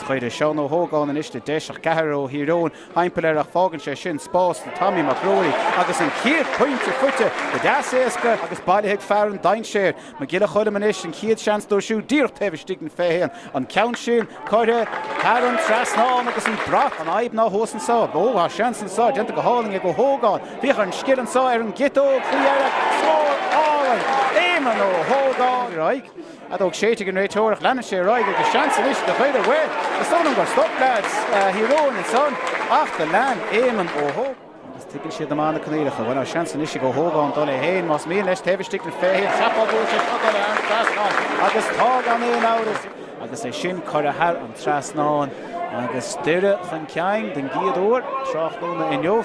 Chuir Seán Ó hÓgáin anois le deis ach ceathrar ó Thír Eoghain thimpeall air ach fágann sé sin spás do Tommy Mac Ruairí agus an chéad pointe faighte go deas éasca agus bailithe ag fear an dainséir, Mac Giolla Choilm anois an chéad seans dó siúd díreach taobh istigh den 21. An ceann sin curtha thar an trasnán agus an brat, an fhadhb ná thuas anseo. Ó, tá seans anseo déanta go hálainn ag Ó hÓgáin. Féach ar an scil anseo ar an gciotóg faoi dheireadh. Scór álainn. Éamonn Ó hÓgáin ar aghaidh. fheadóg séidte ag an réiteoir ach leanann sé ar aghaidh agus seans anois do Dhoire. Bhuel, is dóigh liom gur stop leaids Thír Eoghain ansan ach do lean Éamonn Ó hÓgáin is tuigeann sé go maith na coinníollacha. Bhuel, tá seans anois ag Ó hÓgáin dul é féin más mian leis taobh istigh den 20 cheapfainn go bhfuil sé seo ag dul thar an trasnán agus tá gan aon amhras agus é sin curtha thar an trasnán agus Doire chun cinn den gcéad uair tráthnóna inniu.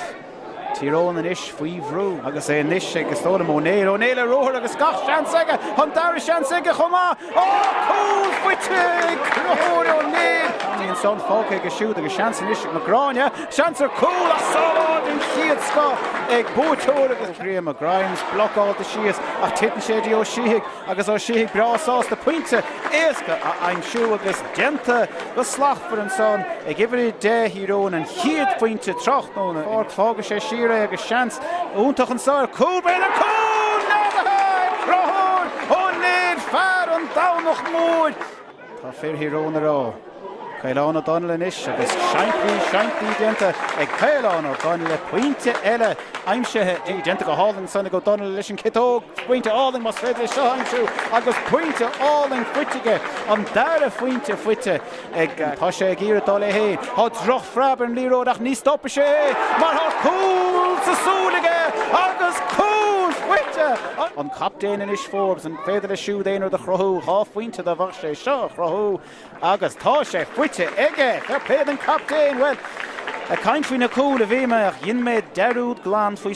Tír Eoghain anois faoi bhrú agus é anois ag Stolen, Ó Néill, Ó Néill ar ruathar agus gach seans aige an dara seans aige chomh maith. Ó, cúl faighte ag Conchúr Ó Néill! Ní ansan, fágtha aige siúd agus seans anois ag Mac Gráine, seans ar chúl ach sábháil den chéad scoth ag buaiteoir agus Ó Grianna, Grimes, blocáilte síos ach titeann sé dtí Ó Síthigh. agus Ó Síthigh breá sásta pointe éasca a aimsiú agus déanta go slachtmhar ansan ag uimhir 10 Thír Eoghain an chéad phointe tráthnóna inniu. Fágann sé siar é agus seans iontach anso ar chúl. Beidh an cúl neadaithe ag Conchúr Ó Néill, fear an Domhnach Mhóir! Tá fir Thír Eoghain ag rá. Caolán Ó Donnaile anois agus seaimpí, seaimpí déanta ag Caolán Ó Donnaile, pointe eile aimsithe. Déanta go hálainn ansan ag Ó Donnaile leis an chiotóg. Pointe álainn más féidir é seo a aimsiú agus pointe álainn faighte aige. An dara phointe faighte ag. Tá sé ag iarraidh dul é fhéin. Tá drochphreab ar an liathróid ach ní stopfaidh sé é mar tá cúl sa súil aige agus cúl faighte ag an gcaptaen anois Forbes. féidir leis siúd aon rud a chruthú, dhá phointe dá bhféadfadh sé seo a chruthú agus tá sé faighte aige! Fair play don captaen! Bhuel, ag caint faoi na cúil a bhí mé ach dhein mé dearúd glan faoi.